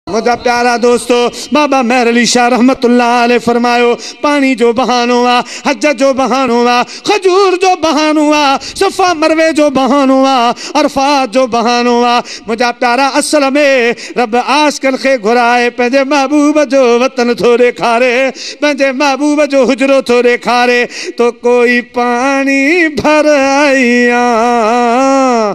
منهنجا پيارا دوستو! بابا مهر علي شاهه رحمة الله عليه فرمايو، پاڻي جو بهانو آ، حج جو بهانو آ، کجور جو بهانو آ، صفا مروي جو بهانو آ، عرفات جو بهانو آ. منهنجا پيارا اصل ۾ رب عاشقن کي گهرائي پنهنجي محبوب جو وطن ٿو ڏيکاري، پنهنجي محبوب جو حجرو ٿو ڏيکاري. تو ڪوئي پاڻي ڀر آئي آن.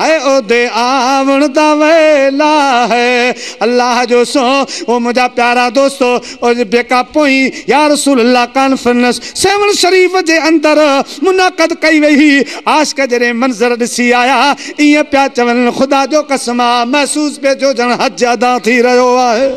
هيء اودي آوڻ دا ويلا هي الله جو سو او منهنجا پيارا دوستو اودي بيڪا پوئين يا رسول الله ڪانفرنس سيوهڻ شريف جي اندر منعقد ڪئي وئي هئي عاشق جڏهن منظر ڏسي آيا ائين پيا چون خدا جو قسم آ محسوس پئي ٿيو ڄڻ حج ادا ٿي رهيو آهي.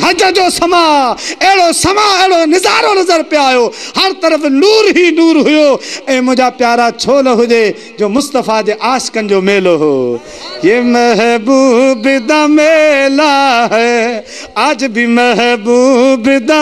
حج جو سماء اهڙو سماء اهڙو نظارو نظر پئي آيو هر طرف نور هي نور هيو اي منهنجا پيارا ڇو نه هجي جو مصطفيٰ جي عاشقن جو ميلو هو يي محبوب دا ميلا هي آج بي محبوب دا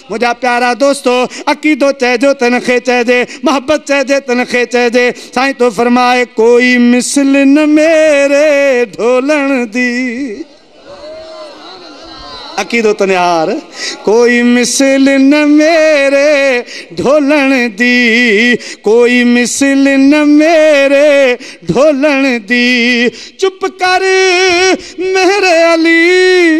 منهنجا پيارا دوستو! عقيدو چئجو ته ان کي چئجي، محبت چئجي ته ان کي چئجي. سائين ٿو فرمائي، ڪوئي مثل نه ميري ڍولڻ دي. عقيدو ته نهار، ڪوئي مثل نه ميري ڍولڻ دي، ڪوئي مثل نه ميري ڍولڻ دي. چپ ڪر ميري علي!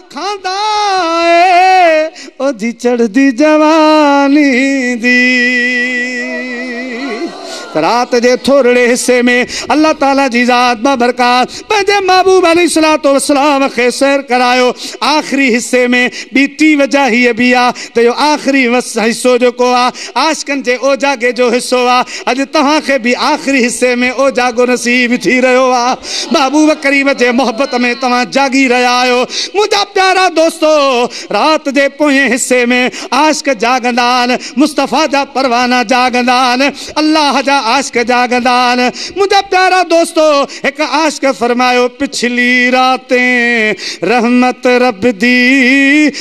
کاندا اي او جي چڙهدي جواني دي رات جي ٿورڙي حصي ۾ الله تعالي جي ذات بابرڪات پنهنجي محبوب عليه الصلوۃ والسلام کي سير ڪرايو آخري حصي ۾ ٻي ٽي وجه هيء به آ ته اهو آخري حصو جيڪو آ عاشقن جي اوجاڳي جو حصو آ اڄ توهان کي به آخري حصي ۾ اوجاڳو نصيب ٿي رهيو آ محبوب ڪريم جي محبت ۾ توهان جاڳي رهيا آهيو منهنجا پيارا دوستو رات جي پوئين حصي ۾ عاشق جاڳندا آهن مصطفيٰ جا پروانا جاڳندا آهن الله جا عاشق جاڳندا آهن منهنجا پيارا دوستو هڪ عاشق فرمايو پڇلي راتين رحمت رب دي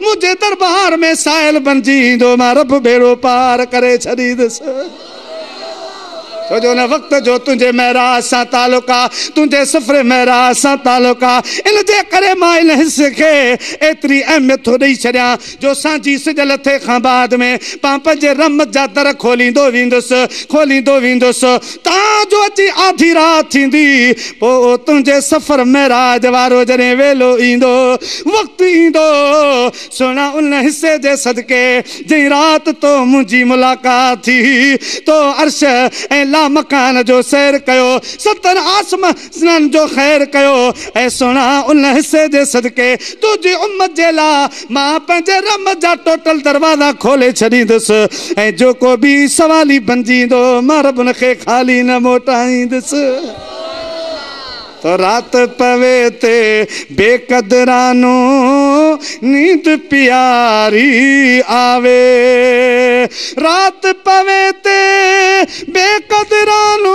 منهنجي دربار ۾ سائل بڻجي ايندو مان رب ٻيڙو پار ڪري ڇڏيندس ڇو جو ان وقت جو تنهنجي معراج سان تعلق آ تنهنجي سفر معراج سان تعلق آ ان جي ڪري مان ان حصي کي ايتري اهميت ٿو ڏئي ڇڏيان جو سانجهي سج لٿي کان بعد ۾ مان پنهنجي رحمت جا در کوليندو ويندس کوليندو ويندس تان جو اچي آڌي رات ٿيندي پوء تنهنجي سفر معراج وارو جڏهن ويلو ايندو، وقت ايندو، سهڻا ان حصي جي صدقي جنهن رات تو منهنجي ملاقات ٿي هئي، تو عرش ۽ لامڪان جو سير ڪيو، ستن آسمان. سنن جو خير ڪيو اي سهڻا ان حصي جي صدقي تنهنجي امت جي لا مان پنهنجي رحمت جا ٽوٽل دروازا کولي ڇڏيندس ۽ جو ڪو بي سوالي بنجي ايندو مان رب ان کي خالي نه موٽائيندس تو رات پوي تي بي قدرانو نيند پياري آوي رات پوي تي بي قدرانو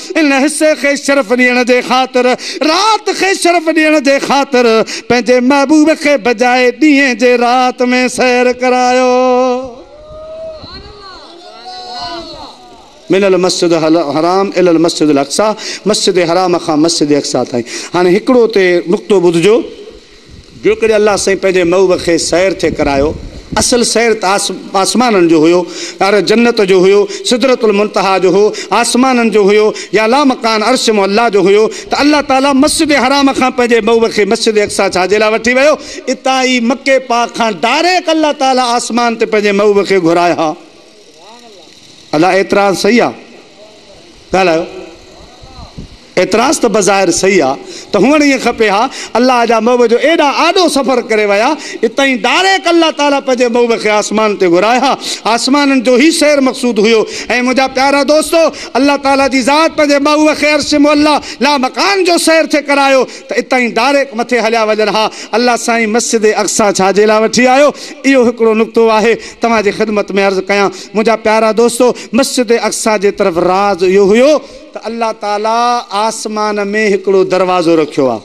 ان حصي کي شرف ڏيڻ جي خاطر رات کي شرف ڏيڻ جي خاطر پنهنجي محبوب کي بجاء ڏينهن جي رات ۾ سير ڪرايو من المسجد الحرام الي المسجد الاقصيٰ مسجد حرام کان مسجد اقصيٰ تائين هاڻي هڪڙو اتي نقطو ٻڌجو جيڪڏهن الله سائين پنهنجي محبوب کي سير ٿي ڪرايو، اصل سير ته آسمانن جو هيو، ار جنت جو هيو، سدرة المنتهيٰ جو هو، آسمانن جو هيو يا لامڪان عرش معليٰ جو هيو ته الله تعاليٰ مسجد حرام کان پنهنجي محبوب کي مسجد اقصيٰ ڇا جي لاء وٺي ويو؟ اتان ئي مڪي پاڪ کان ڊائريڪٽ الله تعاليٰ آسمان تي پنهنجي محبوب کي گهرائي ها. ادا اعتراض صحيح آ؟ ڳالهايو. اعتراض ته بظاهر صحيح آ ته هئڻ ائين کپي ها، الله جا محب جو ايڏا آڏو سفر ڪري ويا، اتهائين ڊائريڪ الله تعاليٰ پنهنجي محب کي آسمان تي گهرايو ها، آسمانن جو هي سير مقصود هيو ۽ منهنجا پيارا دوستو! الله تعاليٰ جي ذات پنهنجي محب کي عرش معليٰ، لامڪان، جو سير ٿي ڪرايو ته اتهائين ڊائريڪ مٿي هليا وڃن ها، الله سائين مسجد اقصيٰ ڇا جي لاء وٺي آيو؟ اهو هڪڙو نقطو آهي توهان جي خدمت ۾ عرض ڪيان منهنجا پيارا دوستو! مسجد اقصيٰ جي طرف راز اهو هيو. ته الله تعالي آسمان ۾ هڪڙو دروازو رکيو آ.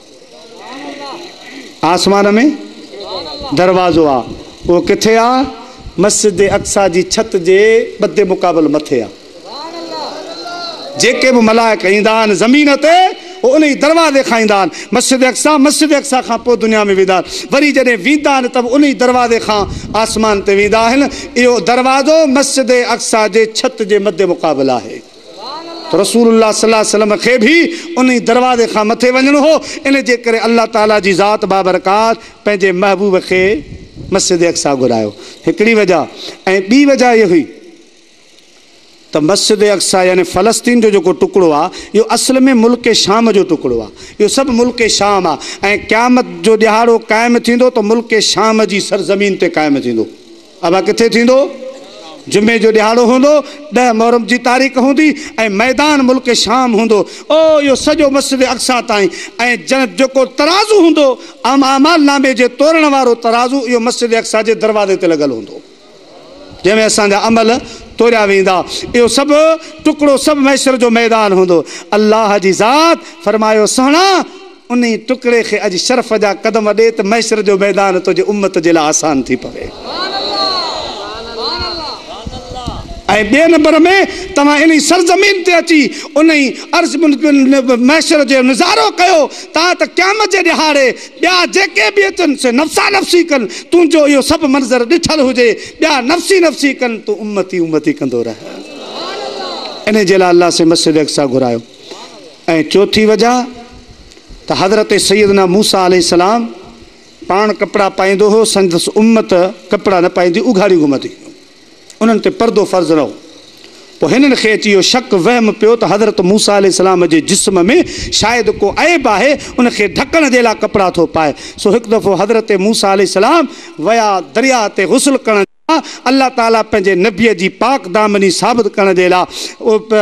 آسمان ۾ دروازو آ. اهو ڪٿي آ؟ مسجد اقصيٰ جي ڇت جي ٻڌي مقابل مٿي آ. جيڪي به ملائڪ ايندا آهن زمين تي اهي انهي دروازي کان ايندا آهن مسجد اقصيٰ، مسجد اقصيٰ کان پوء دنيا ۾ ويندا آهن. وري جڏهن ويندا آهن ته به انهي دروازي کان آسمان تي ويندا آهن. اهو دروازو مسجد اقصيٰ جي ڇت جي مڌي مقابل آهي. رسول الله صلي الله عليه وسلم کي به انهي دروازي کان مٿي وڃڻو هو، ان جي ڪري الله تعاليٰ جي ذات بابرڪات پنهنجي محبوب کي مسجد اقصيٰ گهرايو. هڪڙي وجه ۽ ٻي وجه اهي هئي ته مسجد اقصيٰ يعني فلسطين جو جيڪو ٽڪڙو آهي اهو اصل ۾ ملڪ شام جو ٽڪڙو آهي، اهو سڀ ملڪ شام آهي ۽ قيامت جو ڏهاڙو قائم ٿيندو ته ملڪ شام جي سرزمين تي قائم ٿيندو. ابا ڪٿي ٿيندو؟ جمعي جو ڏهاڙو هوندو، ڏهه محرم جي تاريخ هوندي ۽ ميدان ملڪ شام هوندو. او اهو سڄو مسجد اقصيٰ تائين ۽ جنت جو ڪو ترازو هوندو، اعم اعمال نامي جي تورڻ وارو ترازو اهو مسجد اقصيٰ جي دروازي تي لڳل هوندو، جنهن ۾ اسان جا عمل توريا ويندا. اهو سڀ ٽڪڙو سڀ محشر جو ميدان هوندو. الله جي ذات فرمايو سهڻا! انهي ٽڪڙي کي اڄ شرف جا قدم ڏي ته محشر جو ميدان تنهنجي امت جي لاء آسان ٿي پوي. ۽ ٻئي نمبر ۾ توهان انهي سرزمين تي اچي انهي عرض محشر جو نظارو ڪيو تان ته قيامت جي ڏهاڙي ٻيا جيڪي به اچن سي نفسا نفسي ڪن تنهنجو اهو سڀ منظر ڏٺل هجي ٻيا نفسي نفسي ڪن تون امتي امتي ڪندو رهه. انهي جي لاء الله سين مسجد اقصيٰ گهرايو ۽ چوٿين وجه ته حضرت سيدنا موسيٰ عليه السلام پاڻ ڪپڙا پائيندو هو، سندس امت ڪپڙا نه پائيندي اگهاڙيون گهمندي هيون، انهن تي پردو فرض نه هو، پوء هنن کي اچي اهو شڪ، وهم، پيو ته حضرت موسيٰ عليه السلام جي جسم ۾ شايد ڪو عيب آهي، ان کي ڍڪڻ جي لاء ڪپڙا ٿو پائي، سو هڪ دفعو حضرت موسيٰ عليه السلام ويا درياهه تي غسل ڪرڻ. الله تعالي پنهنجي نبيء جي پاڪ دامني ثابت ڪرڻ جي لاء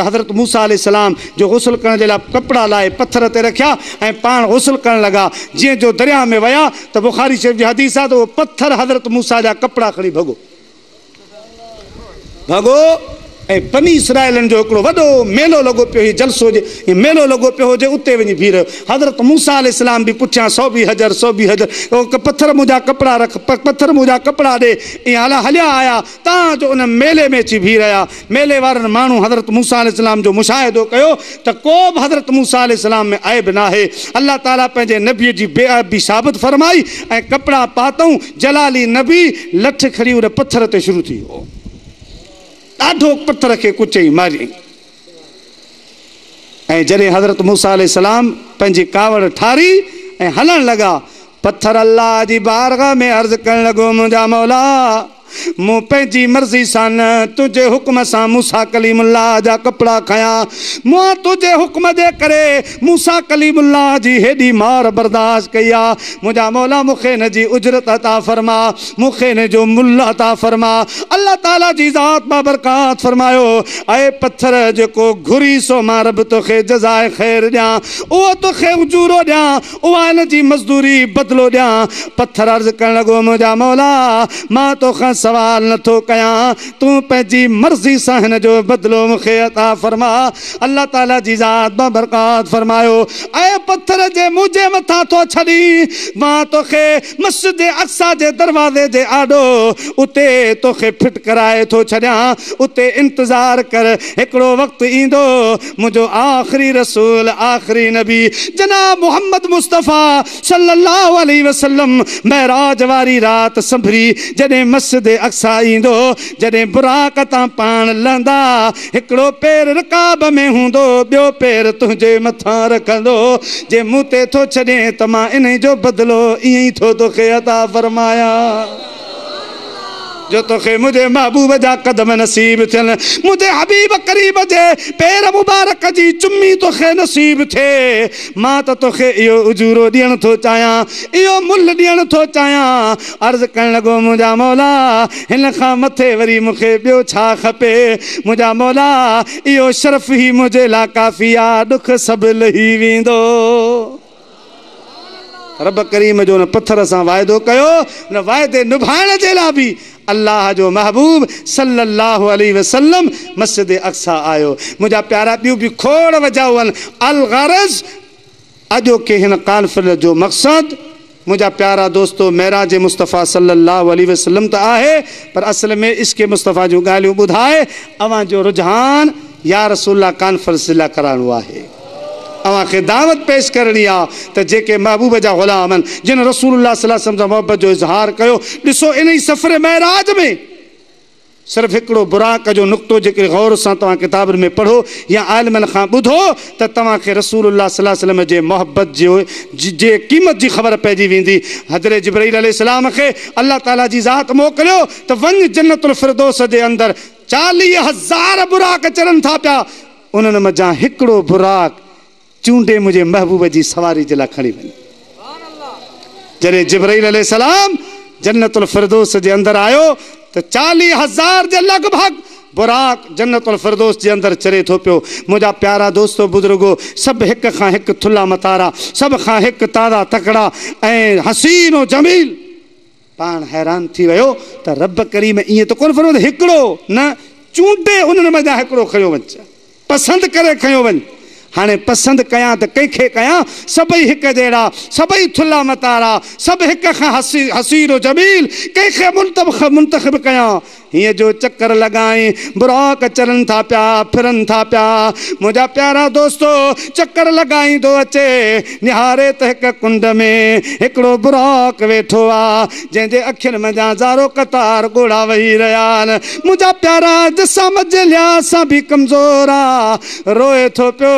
حضرت موسيٰ عليه السلام جو غسل ڪرڻ جي لاء ڪپڙا لاهي پٿر تي رکيا ۽ پاڻ غسل ڪرڻ لڳا جيئن جو درياهه ۾ ويا ته بخاري شريف جي حديث آهي ته اهو پٿر حضرت موسيٰ جا ڪپڙا کڻي ڀڳو ڀڳو ۽ بني اسرائيلن جو هڪڙو وڏو ميلو لڳو پيو هي جلسو هجي يا ميلو لڳو پيو هجي اتي وڃي بيهي رهيو حضرت موسيٰ عليه السلام به پڇيان سوڀي حجر سوڀي حجر او پٿر منهنجا ڪپڙا رک پٿر منهنجا ڪپڙا ڏي ايئن هليا آيا تان جو ان ميلي ۾ اچي بيهي رهيا ميلي وارن ماڻهن حضرت موسيٰ عليه السلام جو مشاهدو ڪيو ته ڪو به حضرت موسيٰ عليه السلام ۾ عيب ناهي الله تعالي پنهنجي نبي جي بي عيبي ثابت فرمائي ۽ ڪپڙا پاتئون جلالي نبي لٺ کڻي ان پٿر تي شروع ٿي ويو. ڏاڍو پٿر کي ڪچئي ماريائين ۽ جڏهن حضرت موسيٰ عليه السلام پنهنجي ڪاوڙ ٺاري ۽ هلڻ لڳا، پٿر الله جي بارگاھ ۾ عرض ڪرڻ لڳو، منهنجا مولا! مون پنهنجي مرضي سان نه تنهنجي حڪم سان موسيٰ ڪليم الله جا ڪپڙا کنيا، مون تنهنجي حڪم جي ڪري موسيٰ ڪليم الله جي هيڏي مار برداشت ڪئي آ، منهنجا مولا مون کي ان جي اجرت عطا فرماء، مون کي ان جو ملهه عطا فرماء. الله تعاليٰ جي ذات بابرڪات فرمايو، اي پٿر جيڪو گهري سو مان رب توکي جزائي خير ڏيان، اهو توکي اجورو ڏيان، اها ان جي مزدوري، بدلو، ڏيان. پٿر عرض ڪرڻ لڳو، منهنجا مولا! مان توکان سوال نه ٿو ڪيان، تون پنهنجي مرضي سان هن جو بدلو مون کي عطا فرماء. الله تعاليٰ جي ذات بابرڪات فرمايو، اي پٿر جي منهنجي مٿان ٿو ڇڏين، مان توکي مسجد اقصيٰ جي دروازي جي آڏو اتي توکي ڦٽ ڪرائي ٿو ڇڏيان، اتي انتظار ڪر، هڪڙو وقت ايندو، منهنجو آخري رسول، آخري نبي جناب محمد مصطفيٰ، صلّي اللّٰه عليه وسلّم معراج واري رات سنڀري جڏهن مسجد اقصيٰ ايندو هو، جڏهن براق تان پاڻ لهندا، هڪڙو پير رڪاب ۾ هوندو هو، ٻيو پير تنهنجي مٿان رکندو هو، جي مون تي ٿو ڇڏين ته مان انهي جو بدلو ائين ئي ٿو توکي عطا فرمايان. جو توکي منهنجي محبوب جا قدم نصيب ٿين منهنجي حبيب قريب جي پير مبارڪ جي چمي توکي نصيب ٿئي مان ته توکي اهو اجورو ڏيڻ ٿو چاهيان اهو ملهه ڏيڻ ٿو چاهيان عرض ڪرڻ لڳو منهنجا مولا هن کان مٿي وري مون کي ٻيو ڇا کپي منهنجا مولا اهو شرف ئي منهنجي لاء ڪافي آ ڏک سڀ لهي ويندو. رب ڪريم جو ان پٿر سان واعدو ڪيو، ان واعدي نڀائڻ جي لاء به الله جو محبوب صلّي اللّٰه عليه وسلّم مسجد اقصيٰ آيو. منهنجا پيارا ٻيون به کوڙ وجهه هئن، الغرض اڄوڪي هن ڪانفرنس جو مقصد منهنجا پيارا دوستو معراج مصطفٰي صلّي اللّٰه عليه وسلّم ته آهي پر اصل ۾ عشق مصطفٰي جون ڳالهيون ٻڌائي اوهان جو رجحان يارسول الله ڪانفرنس جي لاء ڪرائڻو آهي. اوهان کي دعوت پيش ڪرڻي آ ته جيڪي محبوب جا غلام آهن جن رسول الله صلي الله عليه وسلم سان محبت جو اظهار ڪيو ڏسو انهي سفر معراج ۾ صرف هڪڙو براق جو نقطو جيڪي غور سان توهان ڪتابن ۾ پڙهو يا عالمن کان ٻڌو ته توهان کي رسول الله صلي الله عليه وسلم جي محبت جي قيمت جي خبر پئجي ويندي حضرت جبرئيل عليه السلام کي الله تعالي جي ذات موڪليو ته وڃ جنت الفردوس جي اندر چاليهه هزار براق چرن ٿا پيا انهن منجهان هڪڙو براق چونڊي منهنجي محبوب جي سواري جي لاء کڻي وڃ. جڏهن جبرئيل عليه السلام جنت الفردوس جي اندر آيو ته چاليهه هزار جي لڳ ڀڳ براق جنت الفردوس جي اندر چري ٿو پيو. منهنجا پيارا دوستو بزرگو! سڀ هڪ کان هڪ ٿلها متارا، سڀ کان هڪ تازا تڪڙا ۽ حسين و جميل. پاڻ حيران ٿي ويو ته رب ڪريم ائين ته ڪونه فرمايو ته هڪڙو نه چونڊي انهن مان جان هڪڙو کنيو وڃ جا پسند ڪري کنيو وڃ هاڻي پسند ڪيان ته ڪنهن کي ڪيان سڀئي هڪ جهڙا سڀئي ٿلها متارا سڀ هڪ کان حسين و جميل ڪنهن کي منتخب ڪيان هيء جو چڪر لڳائين، براڪ چرن ٿا پيا، ڦرن ٿا پيا. منهنجا پيارا دوستو! چڪر لڳائيندو اچي، نهاري ته هڪ ڪنڊ ۾ هڪڙو براڪ ويٺو آ، جنهن جي اکين منجهان زارو قطار ڳوڙها وهي رهيا آهن. منهنجا پيارا! جسامت جي لحاظ سان به ڪمزور آ، روئي ٿو پيو.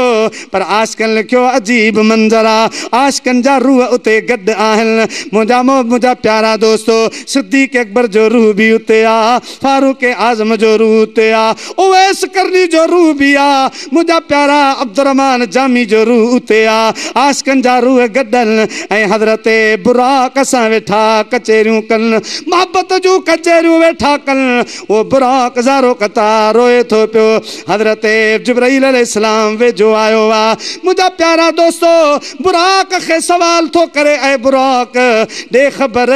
پر عاشقن لکيو عجيب منظر آ عاشقن جا روح اتي گڏ آهن منهنجا مو منهنجا پيارا دوستو صديق اڪبر جو روح به اتي آ فاروق اعظم جو روح اتي آ اويس قرني جو روح به آ منهنجا پيارا عبدالرحمان جامي جو روح اتي آ عاشقن جا روح گڏ ان ۽ حضرت براق سان ويٺا ڪچهريون ڪن محبت جون ڪچهريون ويٺا ڪن اهو براق زارو قطار روئي ٿو پيو. حضرت جبرئيل عليه السلام ويجهو آيو آ. منهنجا پيارا دوستو! براق کي سوال ٿو ڪري، اي براق! ڏي خبر،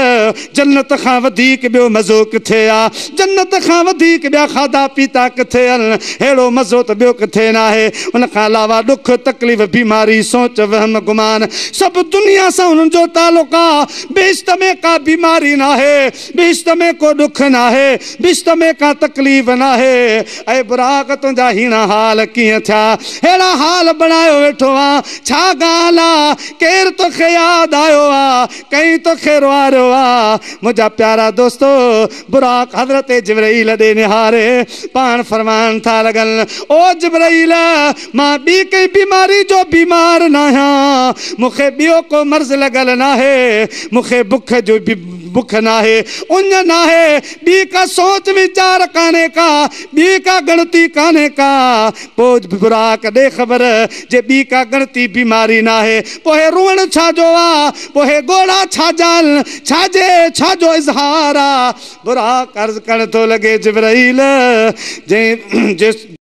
جنت کان وڌيڪ ٻيو مزو ڪٿي آ؟ جنت کان وڌيڪ ٻيا کاڌا پيتا ڪٿي ان؟ ههڙو مزو ته ٻيو ڪٿي ناهي. ان کان علاوه ڏک، تڪليف، بيماري، سوچ، وهم، گمان، سڀ دنيا سان هنن جو تعلق آ. بهشت ۾ ڪا بيماري ناهي، بهشت ۾ ڪو ڏک ناهي، بهشت ۾ ڪا تڪليف ناهي. اي براق تنهنجا هيڻا حال ڪيئن ٿيا، ههڙا حال بڻايو ويٺو آن، ڇا ڳالهه آ، ڪير توکي ياد آيو آ، ڪئين توکي روئاريو آ. منهنجا پيارا دوستو! براق حضرت جبرئيل ڏي نهاري پاڻ فرمائڻ ٿا لڳن، او جبرئيل! مان ٻي ڪنهن بيماري جو بيمار ناهيان، مون کي ٻيو ڪو مرض لڳل ناهي، مون کي بک جي بک ناهي، اڃ ناهي، ٻي ڪا سوچ ويچار ڪانهي ڪا، ٻي ڪا ڳڻتي ڪانهي ڪا. پوء براڪ ڏي خبر، جي ٻي ڪا ڳڻتي بيماري ناهي، پوء هي روئڻ ڇا جو آ؟ پوء هي ڳوڙها ڇا جا آهن؟ ڇا جي ڇا جو اظهار آ؟ براڪ عرض ڪرڻ ٿو لڳي، جبرئيل! جنهن جي.